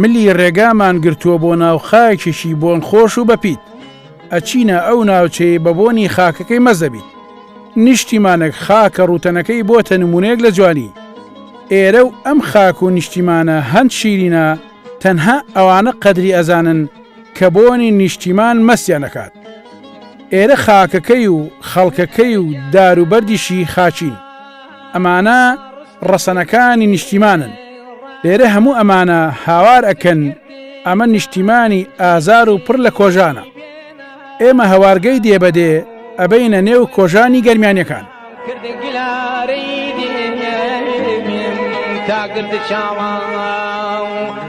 ملی ڕێگامان گرتووە بۆ ناو خاکێکی بۆن خۆش و بەپیت. ئەچینە ئەو ناوچەی بە بۆنی خاکەکەی مەست دەبیت. نیشتیمانەک خاکە ڕووتەنەکەی بۆتە نموونەیەک لە جوانی. ئێرە و ئەم خاک و نیشتیمانە هەند شیرینە تەنها ئەوانە قەدری ئەزانن کە بۆنی نیشتیمان مەستیان ئەکات. ئێرە خاکەکەی و خەڵکەکەی و دار و بەردیشی خاکین. ئەمانە ڕەسەنەکانی نیشتیمانن لێرە هەموو ئەمانە هاوار ئەکەن ئەمە نیشتیمانی ئازار و پڕ لە کۆژانە ئێمە هەوارگەی دێبەدێ ئەبینە نێو کۆژانی گەرمیانەکان تاگرد چاوان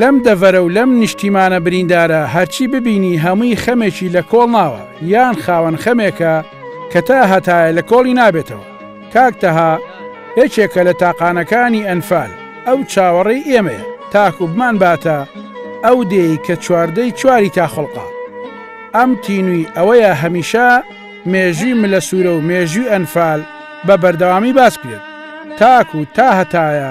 لەم دەڤەرە و لەم نیشتیمانە بریندارە هەرچی ببینی هەمووی خەمێکی لە کۆڵ ناوە یان خاوەن خەمێکە کە تا هەتایە لە کۆڵی نابێتەوە. کاک تەها یەکێکە لە تاقانەکانی ئەنفال، ئەو چاوەڕێی ئێمەیە تاکوو بمانباتە ئەو دێی کە چواردەی چواری تا خوڵقا. ئەم تینووی ئەوەیە هەمیشە مێژووی ملە سوورە و مێژووی ئەنفال بە بەردەوامی باس کرێت تاکوو تا هەتایە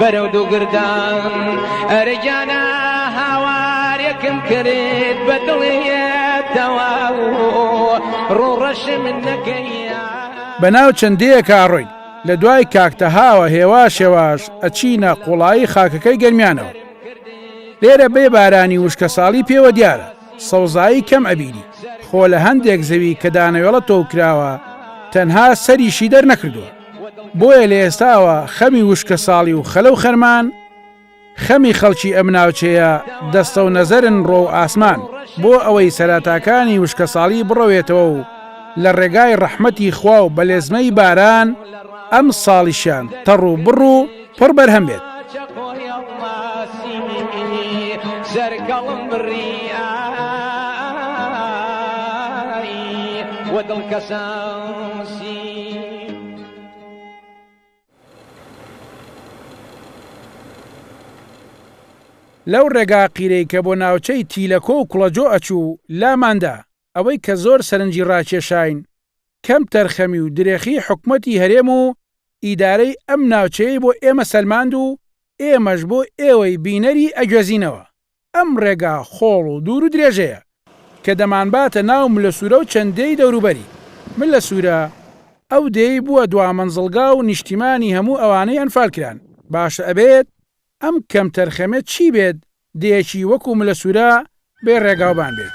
بەرەو دوو گردان ئەرە گیانە هاوارێکم کرد بە دڵێتەوە ڕۆڕەشم نەکەیە بەناو چەندەیە کاڕۆین لە دوای کاکتەهاوە هێواش هێواش ئەچینە قوڵایی خاکەکەی گەرمیانەوە لێرە بێ بارانی وشکە ساڵی پێوە دیارە سەوزایی کەم ئەبیری خۆ لە هەندێک زەوی کە دانەوێڵە تۆکراوە تەنها سەریشی دەرنەکردووە بۆیە لە ئێستاوە خەمی وشکەساڵی و خەلە و خەرمان خەمی خەڵکی ئەم ناوچەیە دەستە و نەزەرن ڕۆ و ئاسمان بۆ ئەوەی سەراتاکانی وشکەساڵی بڕەوێتەوە و لە ڕێگای ڕەحمەتی خوا و بەلێزمەی باران ئەم ساڵیشیان تەڕ و بڕ و پڕ بەرهەم بێت. لەو ڕێگا قیرەی کە بۆ ناوچەی تیلەکۆ و کوڵەجۆ ئەچوو، لاماندا، ئەوەی کە زۆر سەرنجی ڕاکێشاین کەم تەرخەمی و درێخی حکومەتی هەرێم و ئیدارەی ئەم ناوچەیەی بۆ ئێمە سەلماند و ئێمەش بۆ ئێوەی بینەری ئەگوێزینەوە ئەم ڕێگا خۆڵ و دوور و درێژەیە کە دەمانباتە ناو ملە سوورە و چەند دێی دەوروبەری ملە سوورە ئەو دێی بووە دوامەنزڵگا و نیشتیمانی هەموو ئەوانەی ئەنفالکران باشە ئەبێت ئەم کەمتەرخەمێ چی بێت دێیەکی وەکو ملە سورە بێ ڕێگاوبان بێت.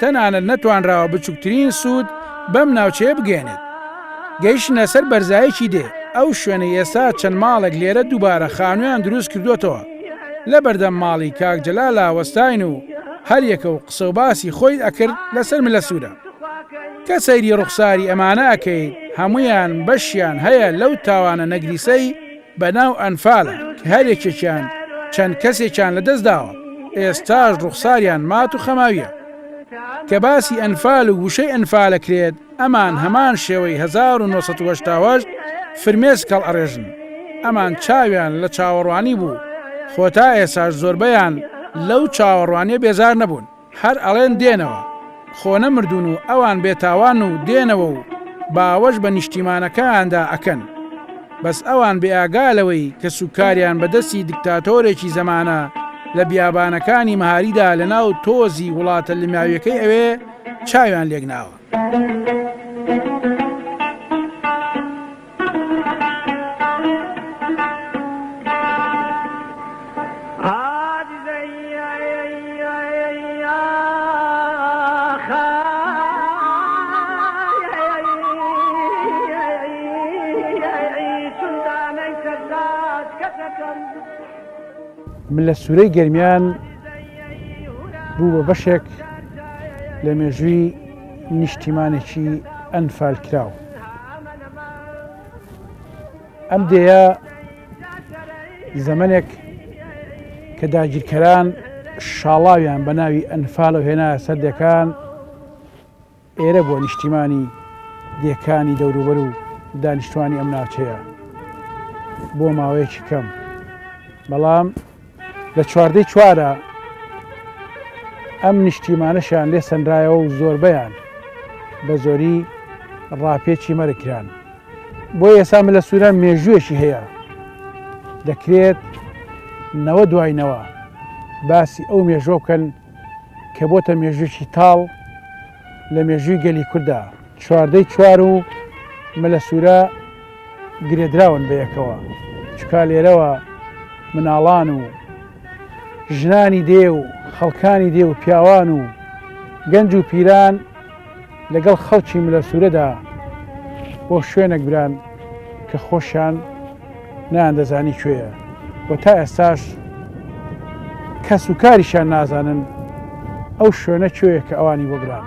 تەنانەت نەتوانراوە بچوکترین سود بەم ناوچەیە بگەیەنێت. گەیشتنە سەر بەرزایەکی دێ، ئەو شوێنەی ئێستا چەند ماڵێک لێرە دووبارە خانویان دروست کردوەتەوە، لەبەردەم ماڵی کاک جەلالا وەستاین و هەریەکەو قسەو باسی خۆی ئەکرد لەسەر ملە سورە. کە سەیری ڕوخساری ئەمانە ئەکەیت هەمویان بەشیان هەیە لەو تاوانە نەگریسەی، بە ناو ئەنفال کە هەر یەکێکیان چەند کەسێکیان لە دەست داوە ئێستاش ڕوخساریان مات و خەماویە کە باسی ئەنفال و وشەی ئەنفال ئەکرێت ئەمان هەمان شێوەی هەزار و نۆ سەد و هەشتا و هەشت فرمێسک هەڵئەڕێژن ئەمان چاویان لە چاوەڕوانی بوو خۆ تا ئێستاش زۆربەیان لەو چاوەڕوانیە بێزار نەبوون. هەر ئەڵێن دێنەوە، خۆ نەمردوون و ئەوان بێتاوان و دێنەوە و باوەش بە نیشتیمانەکەیاندا ئەکەن. بەس ئەوان بێ ئاگا لەوەی کەس و کاریان بە دەستی دکتاتۆرێکی زەمانە لە بیابانەکانی مەهاریدا لە ناو تۆزی وڵاتە لماویەکەی ئەوێ چاویان لێک ناوە. من لە سوورەی گەرمیان بوو بە بەشێک لە مێژووی نیشتیمانێکی ئەنفالکراو. ئەم دێە زەمنێک کە داگیرکەران شاڵاویان بە ناوی ئەنفالە هێنا سەردەکان ئێرە بۆ نیشتیمانی دێکانی دەوروبەر و دانیشتوانی ئەم ناوچەیە بۆ ماوەیەکی کەم بەڵام لە چواردەی چوارە ئەم نیشتیمانەشیان لێ سەنرایەوە و زۆربەیان بە زۆری ڕاپێچی مەرکران بۆ ئێسا ملە سووران مێژوویەکی هەیە دەکرێت نەوە دواینەوە باسی ئەو مێژۆ بکەن کە بۆتە مێژوویی تاڵ لە مێژووی گەلی کووردا چواردەی چوار و مەلە سوورە گرێدراون بەیەکەوە، چونکا لێرەوە مناڵان و ژنانی دێ و خەڵکانی دێ و پیاوان و گەنج و پیران لەگەڵ خەڵکی ملە سوورەدا بۆ شوێنەک بران کە خۆشیان نایاندەزانی کوێیە و تا ئێستاش کەس و کاریشیان نازانن ئەو شوێنە کوێیە کە ئەوانی بۆ بران.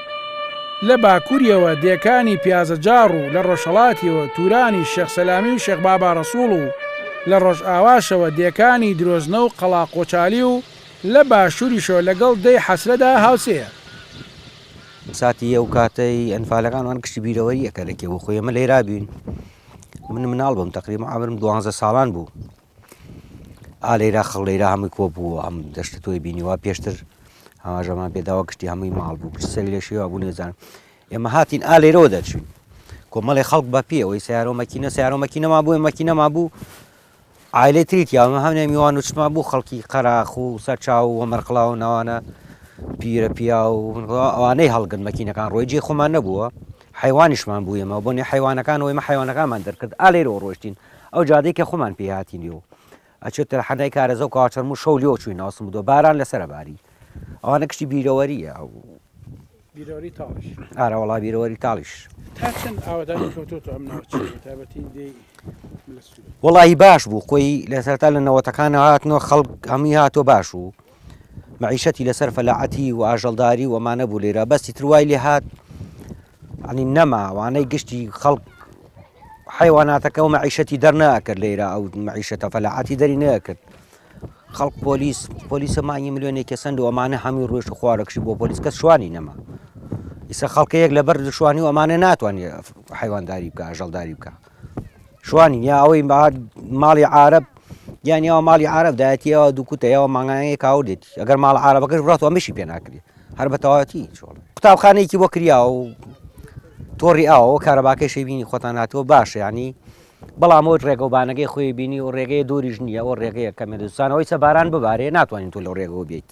لە باکوریەوە دێکانی پیازەجاڕ و لە ڕۆژهەڵاتیەوە تورانی شێخ سەلامی و شێخ بابا ڕەسوڵ و لە ڕۆژئاواشەوە دێکانی درۆزنە و قەڵا قۆچالی و لە باشوریشەوە لەگەڵ دێی حەسرەدا هاوسێیە. ساتی ئەو کاتەی ئەنفالەکان وان گشتی بیرەوەریەکە لە کێ بۆ خۆی ئێمە لەیرا بووین من مناڵ بووم تەقریبا عەمرم دوانزە ساڵان بوو ئا لەیرا خەڵ لەیرا هەمووی کۆ بوو ئەم دەشتە تۆی بینیوە پێشتر ئاماژەمان پێداوە کشتی هەمووی ماڵ بوو کشت سەری لە شێوا بوو نێزان ئێمە هاتین ئا لێرەوە دەچوین کۆمەڵی خەڵک بە پێ ئەوەی سیارۆ مەکینە سیارۆ مەکینەما بووێ مەکینەما بوو ئایلێ تریت یاوە هەمێ میوان وچمان بوو خەڵکی قەراخ و سەرچاو و مەرقلا و ناوانە پیرە پیا و ئەوانەی هەڵگرن مەکینەکان ڕۆی جێ خۆمان نەبووە حیوانیشمان بوویمەوە بۆنی حیوانەکان وەیمە حیوانەکانمان دەرکرد ئالێرەوە ڕۆشتین ئەو جادەی کە خومان پێی هاتین لێو ئەچێت تەرحەنای کارەزە و کاچەرم و شەو لێو چوین ئاسم بوو باران لەسەر باری ئەوانە کشتی بیرەوەریە ئەو بیرەوەری تاڵش ئارە وڵا بیرەوەری تاڵیش تا چەند ئاوادانی کەوتۆ تۆ ئەم ناوچەیە تابەتی دێی ملە سوورە وڵی باش بوو خۆی لەسەرتا لە نەوەتەکانە هاتنەوە خەڵک هەمووی هاتۆ باش و مەعیشەتی لەسەر فەلاعەتی و ئاژەڵداری و ئەمانە بوو لێرە بەستی تر وای لێ هات عنی نەما وانەی گشتی خەڵک حیواناتەکە و مەعیشەتی دەرناکرد لێرە ئەو مەعیشەتە فەلاعاتی دەری نەکرد خەڵک پۆلیس پۆلیسە مانگی ملیۆنێک کەسەند و ئەمانە هەمووی ڕۆژ و خوارەکشی بۆ پۆلیس کەس شوانی نەما ئیسە خەڵکەیەک لەبەر شوانی و ئەمانە ناتوانێت حیوانداری بکە ژەڵداری بکە شوانی یا ئەوەی ماڵی عرب یان یاوە ماڵی عرب دایەتیەوە دووکوتە یاوە مانگانەیە کاودێت ئەگەر ماڵ عربەکەش بڕات ئەمەشی پێ ناکری هەر بە تەواتی چۆڵ قوتابخانێکی بۆ کریا و تۆڕی ئاوە کارەباکەی شەبینی خۆتان هاتووە باشە ینی بەڵام ئەوت ڕێگەوبانەکەی خۆی بینی و ڕێگەی دووریش نییە ئەو ڕێگەیە کەمێ دوستانەوەی سەباران ببارێ ناتوانین تۆ لەو ڕێگەوە بێیت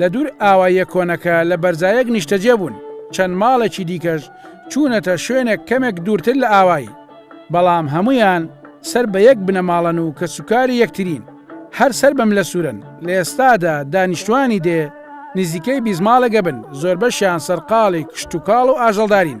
لە دوور ئاواییە کۆنەکە لە بەرزایەک نیشتەجێ بوون، چەند ماڵێکی دیکەش چوونەتە شوێنێک کەمێک دوورتر لە ئاوایی، بەڵام هەموویان سەر بە یەک بنەماڵەن و کەسوکاری یەکترین، هەر سەر بە ملەسوورەن، لە ئێستادا دانیشتووانی دێ نزیکەی بیست ماڵێک ئەبن، زۆربەشیان سەرقاڵی کشتوکاڵ و ئاژەڵدارین.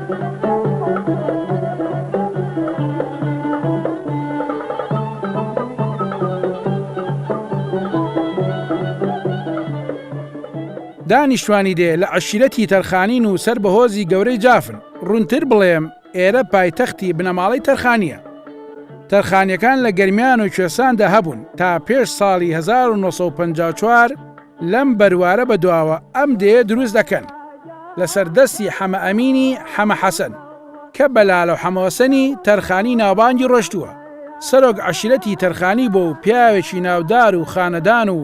دانیشتوانی دێ لە عەشیرەتی تەرخانین و سەر بە هۆزی گەورەی جافن، ڕوونتر بڵێم ئێرە پایتەختی بنەماڵەی تەرخانییە. تەرخانییەکان لە گەرمیان و کوێستاندا هەبوون تا پێش ساڵی 1954، لەم بەروارە بەدواوە ئەم دێیە دروست دەکەن لەسەر دەستی حەمە ئەمینی حەمە حەسەن کە بە لالە و حەمەوەسەنی تەرخانی ناوبانگی ڕۆشتووە سەرۆک عەشیرەتی تەرخانی بووە و پیاوێکی ناودار و خانەدان و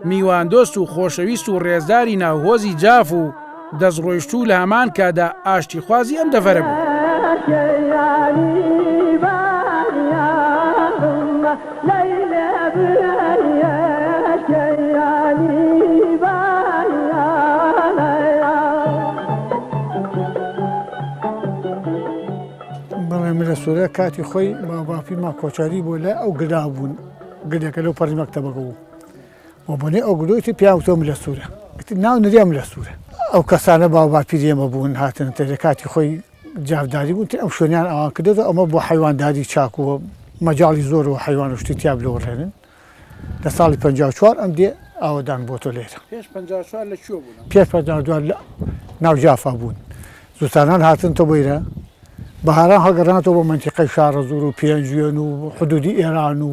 میواندۆست و خۆشەویست و ڕێزداری ناو هۆزی جاف و دەستڕۆیشتوو لە هەمان کاتدا ئاشتیخوازی ئەم دەڤەرە سورە کاتی خۆی باوباپی ما کۆچاری بۆ لە ئەو گدا بوون گلێکە لەو پەرمەکتەبەکە بوو وە بۆنی ئەو گلۆی تر پێیان وتوە ملە سورە ئیتر ناو نریان ملە سورە ئەو کەسانە باو باپیری ئێمە بوون هاتنە تێ لە کاتی خۆی جافداری بوون تر ئەم شوێنیان ئەوان کردۆتە ئەمە بۆ حەیوانداری چاک و مەجاڵی زۆر و حەیوان و شتی تیا بلۆڕێنن لە ساڵی پەنجا و چوار ئەم دێ ئاوەدان بۆتۆ لێرە پێش پەنجا و چوار لە کوێ بوون ئەم پێش پەنجا و دوار لە ناو جافا بوون زوتانان هاتنتۆ بۆیرە بەهاران هەڵگەڕانەوە بۆ مەنتیقەی شاڕەزوور و پێنجوێن و حدوودی ئێران و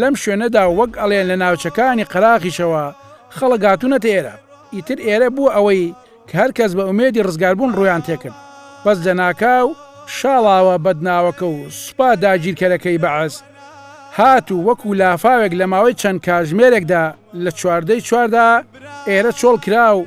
لەم شوێنەدا وەک ئەڵێن لە ناوچەکانی قەراخیشەوە خەڵک هاتوونەتە ئێرە، ئیتر ئێرە بووە ئەوەی کە هەر کەس بە ئومێدی ڕزگاربوون ڕوویان تێ کرد، بەس لەناکاو شاڵاوە بەدناوەکە و سوپا داگیرکەرەکەی بەعس هات و وەکوو لافاوێک لە ماوەی چەند کاژمێرێکدا لە چواردەی چواردا ئێرە چۆڵ کرا و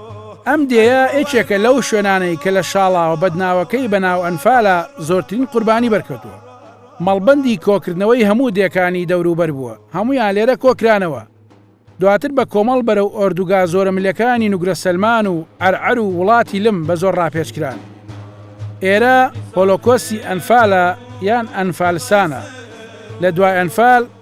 ئەم دێیە یەکێکە لەو شوێنانەی کە لە شاڵاوە بەدناوەکەی بە ناو ئەنفالا زۆرترین قوربانی بەرکەوتووە. مەڵبەندی کۆکردنەوەی هەموو دێکانی دەوروبەر بووە، هەموویان لێرە کۆکرانەوە. دواتر بە کۆمەڵ بەرەو ئۆردوگا زۆرەملێکانی نوگرە سەلمان و عەرعەر و وڵاتی لم بە زۆر ڕاپێچکران. ئێرە هۆلۆکۆستی ئەنفالە یان ئەنفالسانە لە دوای ئەنفال.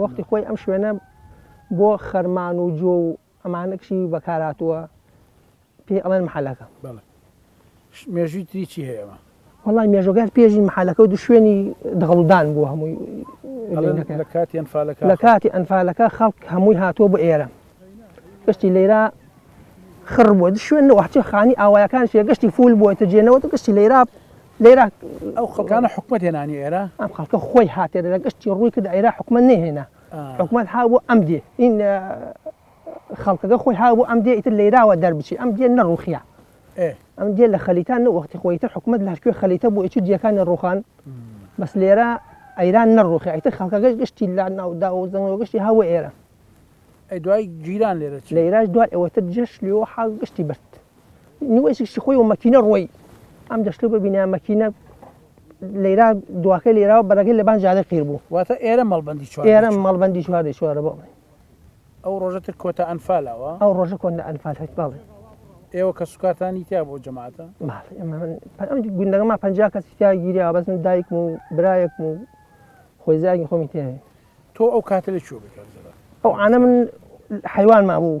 وەختی خۆی ئەم شوێنە بۆ خەرمان و جۆ و ئەمانە کشی بەکاراتووە پێی ئەڵێن محلەکە مێژوی تری چی هەیە ئەمە وڵی مێژۆگات پێژی محلەکە و دو شوێنی دەغڵدان بوو هەمووی لە کاتی ئەنفالەکە لە کاتی ئەنفالەکە خەڵک هەمووی هاتووە بۆ ئێرە گشتی لێرا خڕ بووە شوێن وحچە خانی ئاوایەکان شێ گشتی فول بووە تەجێنەوە گشتی لێرا لێرە ئەو خەڵکانە حکومەت هێنانی ئێرە ئەم خەڵکە خۆی هاتێ لە گشتی ڕووی کرد ئێرا حکومەت نەهێنا حکومەت ها بۆ ئەم دێ این خەڵکەکە خۆی ها بۆ ئەم دێ ئیتر لێراوە دەربچی ئەم دێ نەڕوخیا ئەم دێ لە خەلیتان وەختی خۆی تر حکومت لە کوێ خەلیتە بۆ ئیچ دیەکانی ڕوخان بەس لێرە ئەیران نەڕوخی ئیتر خەڵکەکەش گشتی لا ناودا و زەنگەوە گشتی هەوە ئێرە دوای گیران لێرە لێراش دوای ئەوەتر جێش لێەوە حاڵ گشتی برد نوێسیشی خۆی و مەکینە ڕۆی ئەم دەشتو ببینە مەکینە لێرا دواکە لێراوە بەرەکەی لەبان جادە قیر بوو واتە ئێرە مەڵبندی چوار ئێرە مەڵبندی چوار دێ چوارە بۆ ئەو ڕۆژەتر کۆتا ئەنفالاوە ئەو ڕۆژە کۆن لە ئەنفال هەت باڵێ ئێوە کە سوکارتانی تیا بۆ جەماعتە گوندەکەما پ کەسی تیا گیریا بەزم دایکم و برایەکم و خۆی زاگی خۆمی تێ تۆ ئەو کاتە لە چوە بکات ئەو ئاە من حیوان ما بوو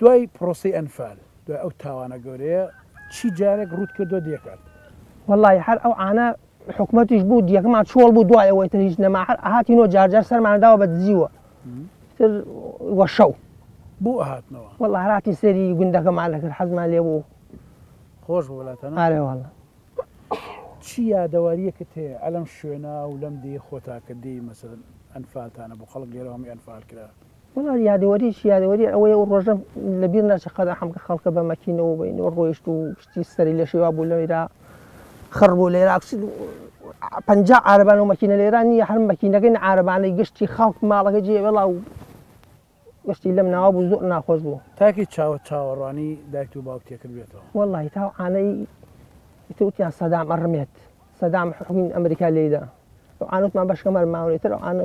دوای پرۆسەی ئەنفال دوای ئەو تاوانە گەورەیە چی جارێک ڕووت کردوە دێکارت؟ وەڵاهی هەر ئەو عانە حکومەتیش بوو دیەکمان چۆڵ بوو دوای ئەوەی تر هیچ نەما هەر ئەهاتینۆ جار جار سەرمان داوە بە دزیوە تر وە شەو بۆ ئەهاتنەوە وەڵا هەراتین سەری گوندەکەمان دەکرد حەزمان لێ بوو خۆش بوو لاتەنە ئارێ وەڵا چی یادەواریەکت هەیە ئەلەم شوێنا و لەم دێ خۆتاکە دێی مەسەرن ئەنفالتانە بۆ خەڵک لێرەوە هەمی ئەنفال کرا وەڵا یادەوەریی یادەوەریە ئەوەیە ئەو ڕۆژە لە بیر ناچێ قەدا حەمکە خەڵکە بە مەکینەوە بە ئینەوە ڕۆیشت و شتی سەری لێ شێوا بوو لەوێرا خڕ بوو لێرا پەنجا عارەبان و مەکینە لێرا نییە هەر مەکینەکەین عارەبانەی گشتی خەڵک ماڵەکە جێ وێڵا و گشتی لەم ناوە بوو زۆر ناخۆش بوو تاکی چاوە چاوەڕوانی دایک و باوک تێکرد بێتەوە وەڵی تا عانەی ئیتوتیان سەدام ئەڕمێت سەدام حکوین ئەمریکا لێدا ئەو عانوتمان بەشکەمەر ماونێتەر ئەو عانە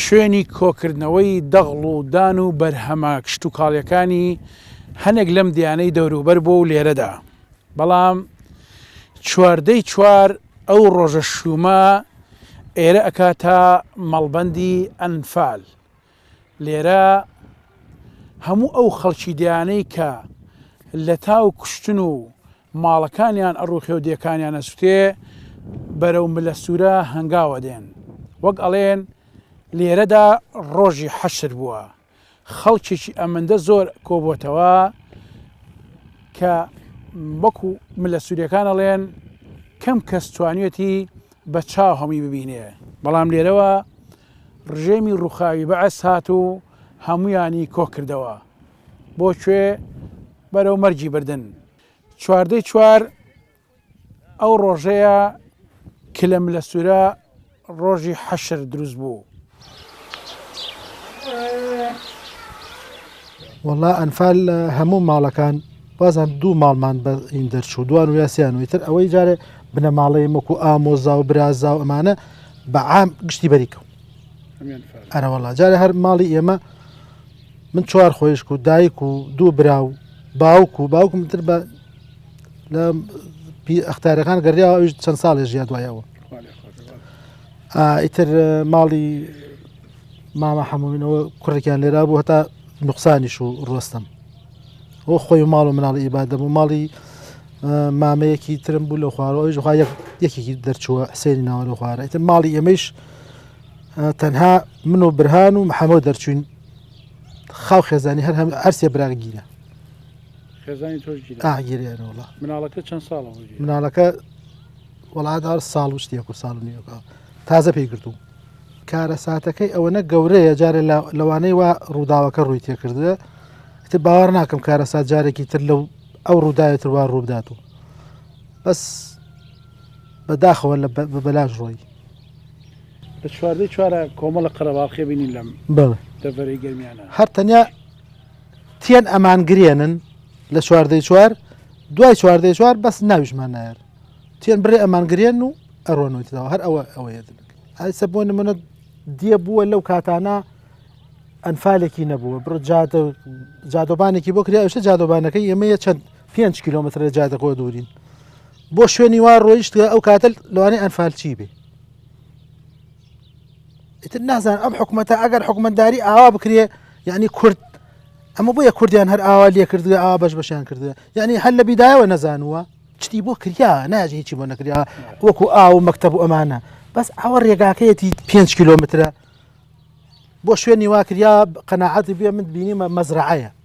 شوێنی کۆکردنەوەی دەغڵ و دان و بەرهەمە کشتوکاڵیەکانی هەنێک لەم دیانەی دەوروبەر بووە و لێرەدا بەڵام چواردەی چوار ئەو ڕۆژە شوومە ئێرە ئەکاتە مەڵبەندی ئەنفال لێرە هەموو ئەو خەڵکی دیانەی کە لە تاو کوشتن و ماڵەکانیان ئەڕوخێو دێکانیان ئەسوتێ بەرەو ملە سوورە هەنگاوە دێن وەک ئەڵێن لێرەدا ڕۆژی حەشر بووە خەڵکێکی ئەمەندە زۆر کۆبووتەوە کە وەکو ملە سوورەکان ئەڵێن کەم کەس توانێتی بە چاو هەمی ببینێ بەڵام لێرەوە ڕژێمی ڕوخاوی بەعس هات و هەمویانی کۆکردەوە بۆ کوێ بەرەو مەرگی بردن چواردەی چوار ئەو ڕۆژەیە کلە ملە سوورە ڕۆژی حەشر دروست بوو وەڵا ئەنفال هەموو ماڵەکان بازان دوو ماڵمان بە ئین دەرچوو دوان و یاسیان وتر ئەوەی جارێ بنەماڵەی مەکو ئامۆزا و برازا و ئەمانە بە عام گشتی بەریکەم ئەرەوەڵا جارە هەر ماڵی ئێمە من چوار خۆیشک و دایک و دوو برا و باوک و باوکم تر بە لە ئەختارەکان گەڕیا ئەوش چەند ساڵێ ژیا دوایەوە ئیتر ماڵی مامە حەمومینەوە کوڕێکیان لێرا بوو هەتا نقصانیش و ڕۆستم ئەو خۆی ماڵ و مناڵی ئیبادە بوو ماڵی مامەیەکی ترم بوو لە خوارەوەش خخوا یەکێکی دەرچووە حسێنی ناوە لە خوارە ئیتر ماڵی ئەمەش تەنها من و برهان و محەمەو دەرچوین خاو خێزانی هەر هەم ئەرسێ برار گیرە خێزانی تۆش گیرێنەوەڵ مناڵەکە چەند ساڵ مناڵەکە وڵاتدار ساڵ و شتێک و ساڵ نیەکە تازە پێی گرتوو کارە ساتەکەی ئەوەنە گەورەیە جارێ لەوانەی وا ڕووداوەکە ڕووی تێکردە تر باوەڕ ناکەم کارە سات جارێکی تر لەو ئەو ڕووداوێتتر وا ڕوودات و بەس بە داخەوە لە بە بەلاش ڕۆی لە چواردەی چوارە کۆمەڵە قەرەباڵخێ بینی لەم بەڵێ دەڤەرەی گەرمیانە هەر تەنیا تێن ئەمان گرێنن لە چواردەی چوار دوای چواردەی چوار بەس ناویشمان نایەر تێن بڕێ ئەمان گرێن و ئەڕۆنەوەیتەوە هەر ئەوە ئەوەیە ئایسە بۆ نمونە دیە بووە لەو کاتانە ئەنفالێکی نەبووە بڕ جادە جادۆبانێکی بۆ کرا شە جادۆبانەکەی ئێمەیە چەند پێ کیلومتر لە جادەکۆ دوورین بۆ شوێنی وا ڕۆیشتگە ئەو کاتە لەوانەیە ئەنفالچی بێ ئیتر نازان ئەم حکوومەتە ئەگەر حکومەتداری ئاوا بکرێ یعنی کورد ئەمە بۆیە کوردیان هەر ئاوا لێ کردگە ئا بەش بەشیان کردگە یعنی هەر لە بیدایەوە نەزانووە چتی بۆ کریا ناژ هیچی بۆ نەکریا وەکو ئاو و مەکتب و ئەمانە بەس ئەوە ڕێگاکەیەتی 5 کیلومترە بۆ شوێنی واکریا قەنەعاتی بێ من بینیمە مەزرعەیە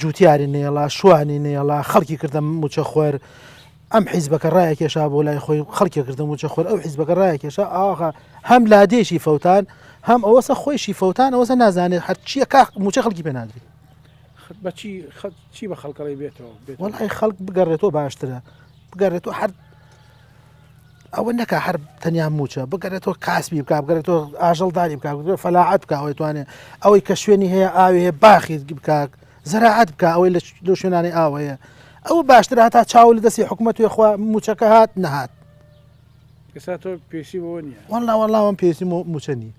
جوتیاری نێڵا شوانی نێڵا خەڵکی کردە موچەخۆر ئەم حیزبەکە ڕایە کێشا بۆ لای خۆی خەڵکی کردە موچەخۆر ئەو حیزبەکە ڕایە کێشا ئاخە هەم لادێشی فەوتان هەم ئەوەسە خۆیشی فەوتان ئەوەسە نازانێت هەرچیە کا موچە خەڵکی پێنادری بەچی چی بە خەڵکەڵی بێتەوە بێت وڵی خەڵک بگەڕێتەوە باشترە بگەڕێتەوە هەر ئەوە نەکا هەر تەنیا موچە بگەرێتەوە کاسبی بک بگەرێتەوە ئاژەڵداری بک فەلاعات بک ئەوەی توانێت ئەوەی کە شوێنی هەیە ئاوێ باخیت بکک زەراعات بک ئەوەی لە شوێنانی ئاوەیە ئەوە باشتر هاتا چاو لە دەستی حکوومەت وێخوا موچەکە هات نەهات ئێستا تۆ پێسی بۆ نیە وەڵا وەڵاوەم پێسی موچە نیە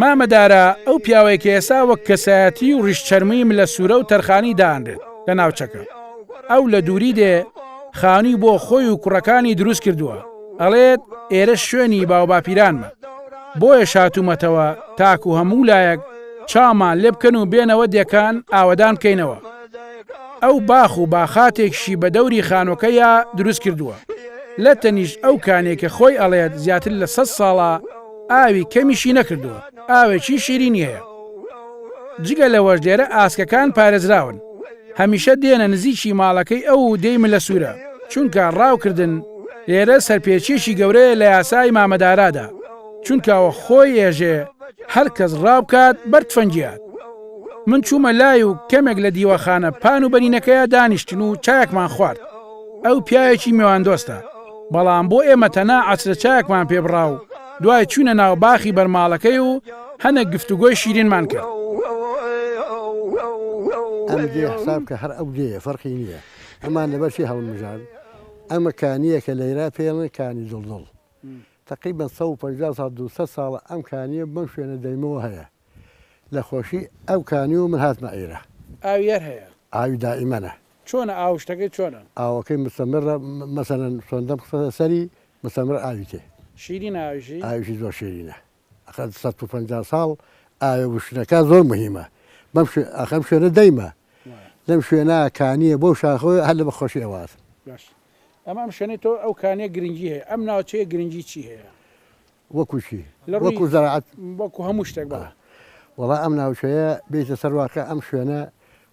مامە دارا ئەو پیاوەیە کە ئێسا وەک کەسایەتی و ڕیش چەرمووی ملە سوورە و تەرخانی دانرێت لە ناوچەکە ئەو لە دووری دێ خانووی بۆ خۆی و کوڕەکانی دروست کردووە ئەڵێت ئێرە شوێنی باوباپیرانمە بۆیە شاتومەتەوە تاکو هەموو لایەک چامان لێ بکەن و بێنەوە دێکان ئاوەدان بکەینەوە ئەو باخ و باخاتێکشی بە دەوری خانوەکەیا دروست کردووە لە تەنیشت ئەو کانەی کە خۆی ئەڵێت زیاتر لە سەد ساڵە ئاوی کەمیشی نەکردووە ئاوێکی شیرینی هەیە جگە لەوەش لێرە ئاسکەکان پارێزراون هەمیشە دێنە نزیکی ماڵەکەی ئەو و دێی ملە سوورە چونکە ڕاوکردن لێرە سەرپێچیەکی گەورەیە لە یاسای مامەدارادا چونکەوە خۆی ئێژێ هەر کەس ڕاوکات بەر تفەنگیات من چوومە لای و کەمێک لە دیوەخانە پان و بەرینەکەیە دانیشتن و چاکمان خوارد ئەو پیاوێکی میواندۆستە بەڵام بۆ ئێمە تەنا عسرە چاکمان پێبڕا و دوای چوینە ناو باخی بەرماڵەکەی و هەنە گفتوگۆی شیرینمان کرد. ئەم دێ حساب کە هەر ئەو دێیە فەرقی نییە ئەمان لەبەر چی هەڵمژان ئەمە کانییە کە لەیرا پێڵێن کانی دڵدڵ تەقیبەن سەد و پەنجا ساڵ دوو سەد ساڵە ئەم کانییە بەم شوێنە دەیمەوە هەیە. لە خۆشی ئەو کانی و من هاتمە عیرە. ئاوی هەر هەیە. ئاوی دائیمەنە. چۆنە ئاو شتەکەی چۆنە. ئاوەکەی مستمرە مەسەلەن سۆندەم خستە سەری مستمر ئاوی تێ. شیرینە ئاویشی. ئاویشی زۆر شیرینە ئەخە سەد و پەنجا ساڵ ئاوێ وشکەکە زۆر مهیمە بەم شوێ ئەخە ئەم شوێنە دەیمە لەم شوێنە کانییە بەو شاخەوەی هەر لە بە خۆشی ئەوە هاتم. باشە ئەمە ئەم شوێنەی تۆ ئەو کانییە گرنگی هەیە ئەم ناوچەیە گرنگی چی هەیە؟ وەکو چی؟ لە ڕووی وەکو زەراعەت؟ وەکو هەموو شتێک بەڵێ. وەڵا ئەم ناوچەیە بێیتە سەر واقع ئەم شوێنە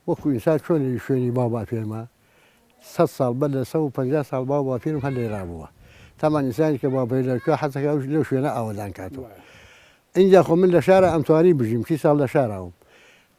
وەکو ئینسان چۆن لە شوێنی باو باپیرمە سەد ساڵ بەر لە سەد و پەنجا ساڵ باو باپیرم هەر لێرا بووە تامان ئینسانی کە باپیر لە کوێ حەز دەکا ئەوش لەو شوێنە ئاوەدان کاتەوە وایە. ئینجا خۆ من لە شارا ئەمتوانی بژیم سی ساڵ لە شارا بووم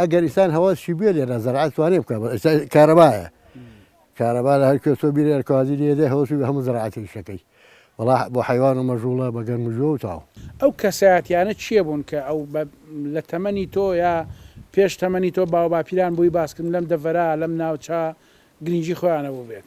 ئەگەر ئیسان هەوا شی بێ لێرا زەرعە توانێ بکە کارەبایە کارەبا لە هەر کوێ تۆ بیرێ کازی لێدە هەوەسی بە هەموو زەرعاتی شەکەی وڵا بۆ حیوان و مەژوڵە بە گەرم و جۆ و تاو ئەو کەسایەتیانە کێ بوون کە ئەو بە لە تەمەنی تۆ یا پێش تەمەنی تۆ باوباپیران بۆی باس کردن لەم دەڤەرە لەم ناوچە گرینگی خۆیانە بووبێت؟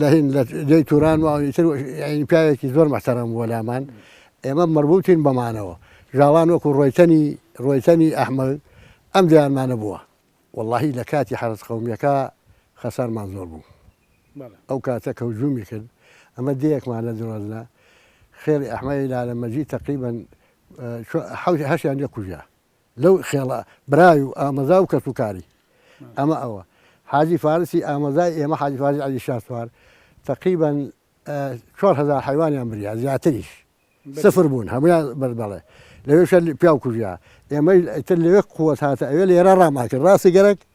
لە هند لە جێی توران و ئیتر یعنی پیاوێکی زۆر محتەرەم بووە لامان ئێمە مەربوتین بەمانەوە ژاوان وەکو ڕۆیتەنی ڕۆیتەنی ئەحمەد ئەم دەیانمانە بووە وەڵاهی لە کاتی حەرەس قەومیەکە خەسارمان زۆر بوو ئەو کاتە کە هجومی کرد ئەمە دەیەکمان لە درۆزنە خێڵی ئەحمەی لالە مەجی تەقریبەن هەشیان لێ کوژا لەو خێڵە برای و ئامەزا و کەس و کاری ئەمە ئەوە حاجی فارسی ئامەزای ئێمە حاجی فارسی علی شاسوار تقریبا چوار هزار حیوانیان بریا زیاتریش سفر بوون هەمویان بەر بەڵێ لەوێشە پیاو کوژیا ئێمە ئیتر لەوێ قوت هاتە ئەوێ لێرە ڕاماکرد ڕاستی گەرەک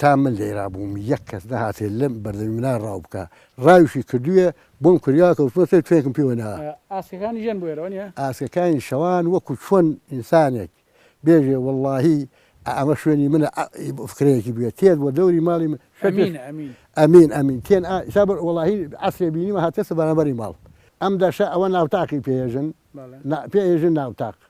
تا من لێرا بووم یەک کەس نەهاتێ لەم بەردەمی منا ڕاو بکا. ڕاویشی کردوویە، بۆم کوریا کەوتووەتێ توێکم پێوە نەا. ئاسکەکانی ژن بوێرەوە نیە؟ ئاسکەکانی شەوان وەکوو چۆن ئینسانێک بێژێ وەڵڵاهی ئەمە شوێنی منە ئا فکرەیەکی بوێ تێر بووە دەوری ماڵی من شەکر ئەمین ئەمین تێن ئا ئیسا بەر وەڵاهی عەسرێ بینیمە هاتێسە بەرانبەری ماڵ ئەم دەشە ئەوە ناوتاقی پێ ئێژن نا پێ ئێژن ناوتاق.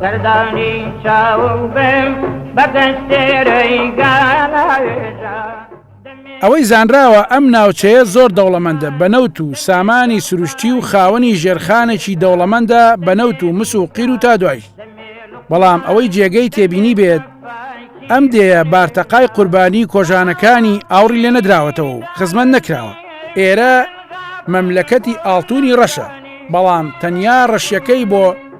سەردانی چاوم بم بە دەستێرەی گالاێژە ئەوەی زانراوە ئەم ناوچەیە زۆر دەوڵەمەندە بە نەوت و سامانی سروشتی و خاوەنی ژێرخانێکی دەوڵەمەندە بە نەوت و مس و قیر و تا دوای بەڵام ئەوەی جێگەی تێبینی بێت ئەم دێە بارتەقای قوربانی کۆژانەکانی ئاوڕی لێ نەدراوەتەوە و خزمەت نەکراوە ئێرە مەملەکەتی ئاڵتونی ڕەشە بەڵام تەنیا ڕەشیەکەی بۆ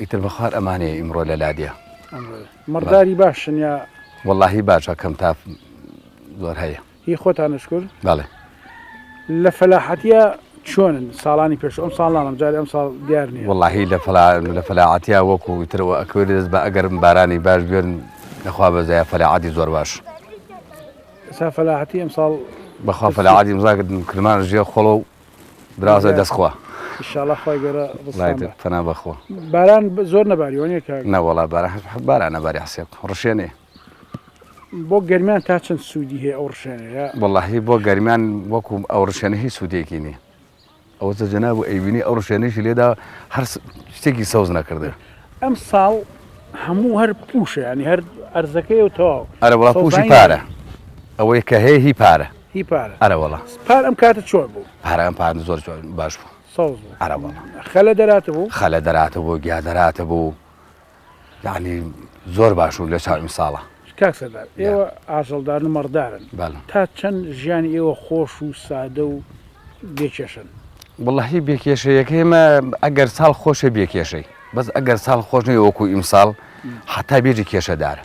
ئیتر بەخوار ئەمانێ ئیمڕۆ لە لادێ مەڕداری باشن یا وەڵی باشە کەم تا زۆر هەیە هی خۆتانشکر بەڵێ لە فەلاحەتە چۆنن ساڵانی پێش ئەم ساڵانم جارێ ئەم ساڵ دیار نیە وەڵی لە لە فەلاعاتیا وەکو ترەوە ئەکوێت دەست بە ئەگەرم بارانی باش بێن لەخوا بەزای فەلاعاتی زۆر باش سا فەلاحەتی ئەم ساڵ بەخوا فەلاعاتی مزاکردن کرمان ژێ خۆڵە و برازە دەست خوا شڵە خۆی گەرە پنا بەخۆ باران زۆر نەباریوانە کە نەوەڵا بارە باران نەباری حسێب ڕشێنێ بۆ گەرمیان تا چەند سوودی هەیە ئەو ڕشێنەیە وڵی بۆ گەرمیان وەکو ئەو ڕشێنە هیچ سوودێکی نیە ئەوە جەنا بوو ئەیبینی ئەو ڕشێنێکی لێدا هەر شتێکی سەوز نەکردێ ئەم ساڵ هەموو هەر پوشە ینی هەر ئەرزەکەی و تەواو ئەرە وڵا پوشی پارە ئەوەی کە هەیە هی پارە هی پارە ئەرە وەڵا پار ئەم کاتە چۆن بوو پارە ئەم پار زۆر باش بوو سەوز بوو ئەرە وەڵا خەلە دەراتە بوو خەلە دەراتە بوو گیا دەراتە بوو یعنی زۆر باش و لە چاو ئیمساڵە کاک سەردار ئێوە ئاژەڵدار و مەڕدارن بەڵێ تا چەند ژیانی ئێوە خۆش و سادە و بێکێشن وڵی بێکێشەیەکە ئێمە ئەگەر ساڵ خۆشە بێکێشەی بەس ئەگەر ساڵ خۆش نەی وەکو ئیمساڵ حتا بێژی کێشەدارە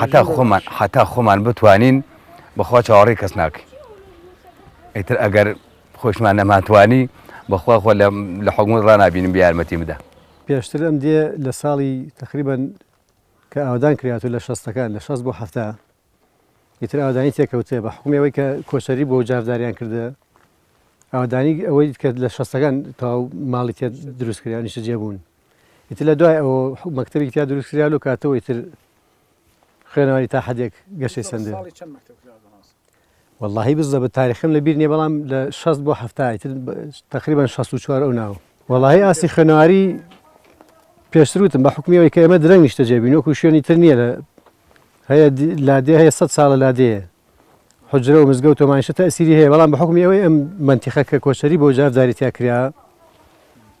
حەتا خۆمان حەتا خۆمان بتوانین بەخوا چاوەڕی کەس ناکەین ئیتر ئەگەر خۆشمان نەماتوانی بەخوا خۆ لە حکومت ڕنابینم بیارمەتی بدە پێشتر ئەم دێ لە ساڵی تقریبن کە ئاودان کرات و لە شەستەکان لە شەست بۆ هەفتا ئیتر ئاودانی تێکەوتێ بە حکومەوەی کە کۆچەری بۆ جارداریان کردە ئاودانی ئەوەی کرد لە شەستەکان تا ماڵی تێ دروستکرانیشە جێبوون ئیتر لە دوای ئەوە مەکتەبی تیا دروست کرا لەو کاتەوە ئیتر خوێنەواری تا حدێک گەشەی سندێ واللهی بزە بە تاریخم لە بیر نیە بەڵام لە 16 بۆ هەفتای تر تقریبان 16 ئەو ناوە وڵی ئاسی خوێنەواری پێشتروتم بە حکومیەوەی کە ئێمە درەنگ نیشتە جێبین وەکو شوێنی تر نییە لە هەیە لادێ هەیە سە ساڵە لادێ حوجرە و مزگەوت و مانشە تەئسیری هەیە، بەڵام بە حوکمی ئەوەی ئەم مەنتیقە کە کۆچەری بۆ جار جاری تیا کرا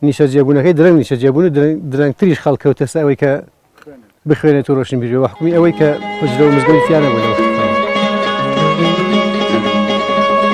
نیشەجێبوونەکەی درەنگ نیشەجێبوون و درەنگتریش خەڵک کەوتە سەر ئەوەی کە بخوێنێت و ڕۆشنبیر بێ بە حوکمی ئەوەی کە حوجرە و مزگەوتی تیا نەبوو لەو